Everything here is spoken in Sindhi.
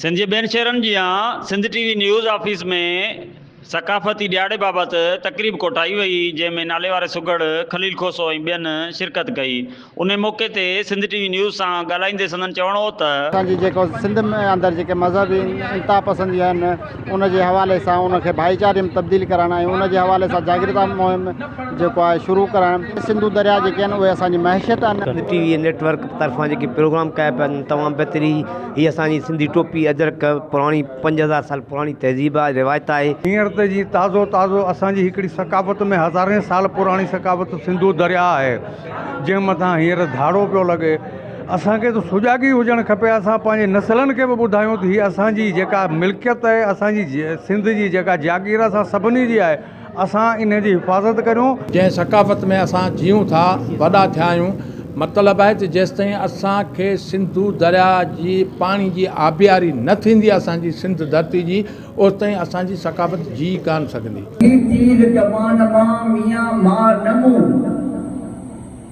سنڌ جي ٻين شهرن جيان Sindh T V news office ۾ ثقافتي ڏهاڙي بابت تقريب ڪوٺائي وئي جنهن ۾ ناليواري سگهڙ خليل کوسو ۽ ٻين شرڪت ڪئي انهي موقعي تي سنڌ ٽي وي نيوز سان ڳالهائيندي سندن چوڻ هو ته. اسان جي جيڪو سنڌ ۾ اندر جيڪي مذهبي انتها پسندي آهن ان جي حوالي سان ان کي ڀائيچاري ۾ تبديل ڪرڻ ۽ ان جي حوالي سان جاڳرتا مهم جيڪو آهي شروع ڪرڻ سنڌو درياء جيڪي آهن اهي اسان جي معيشت آهن. Sindh T V network طرفان جيڪي پروگرام ڪيا پيا وڃن تمام بهتري. هي اسان جي سنڌي ٽوپي، اجرڪ، پراڻي پنج هزار سال پراڻي تهذيب آهي، روايت آهي. هينئر ته جي تازو تازو اسان جي هڪڙي ثقافت ۾ هزارين سال پراڻي ثقافت سنڌو درياهه آهي جنهن مٿان هينئر ڌاڙو پيو لڳي. اسان کي ته سجاڳي هجڻ کپي اسان پنهنجي نسلن کي به ٻڌايون ته هي اسان جي جيڪا ملڪيت آهي اسان جي سنڌ جي جيڪا جاگير اسان سڀني جي آهي اسان ان جي حفاظت ڪريون. جنهن ثقافت ۾ اسان جيئون ٿا، وڏا ٿيا آهيون. مطلب آهي ته جيستائين اسان کي سنڌو درياء جي پاڻي جي آبياري نه ٿيندي اسان جي سنڌ ڌرتي جي، اوستائين اسان جي ثقافت جيئي ڪانه سگهندي. ٻي تيز ڪمان مان ميان مار نه مون.